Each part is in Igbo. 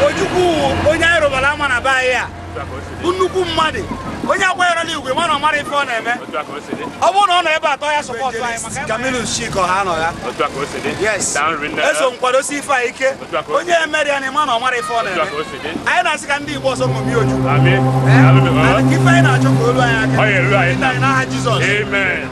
Ojukwu onye anyị rụbara ama na be anyị a bụ nnukwu mmadụ onye a kwanyerela igwe mana ọ mara ife ọ na-eme ọ bụrụ na ọ nọ ebe atọ ya sọpọtụ anyị maka Camillus Chika ha nọ ya yes eso nkwadosi ife a ike onye mere ya na ị ma na ọ mara ife ọ na-eme anyị na-asị ka ndị Igbo ọzọ ṅomie Ojukwu ife anyị na-achọ ka o lu anyị aka n'aha Jizọs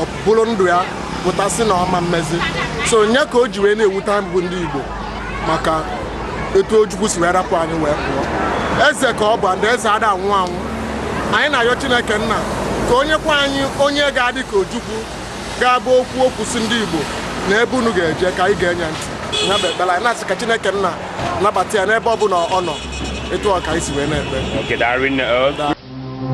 o buru ndụ ya pụta sị na ọ ma emezi sọ nya ka o ji wee na-ewute anyị bụ ndị Igbo maka etu Ojukwu si wee rapụ anyị wee pụọ eze ka ọ bụ ndị eze ada anwụ anwụ anyị na-ayọ Chineke nna ka o nyekwa anyị onye ga-adị ka Ojukwu ga-abụ o kwuo okwu sị ndị Igbo na ebe unu ga-eje ka anyị ga-enye ntị ya bụ ekpere anyị na-asị ka Chineke nna nabata ya n'ebe ọ bụla ọ nọ etu ọ ka anyị si wee na-ekpe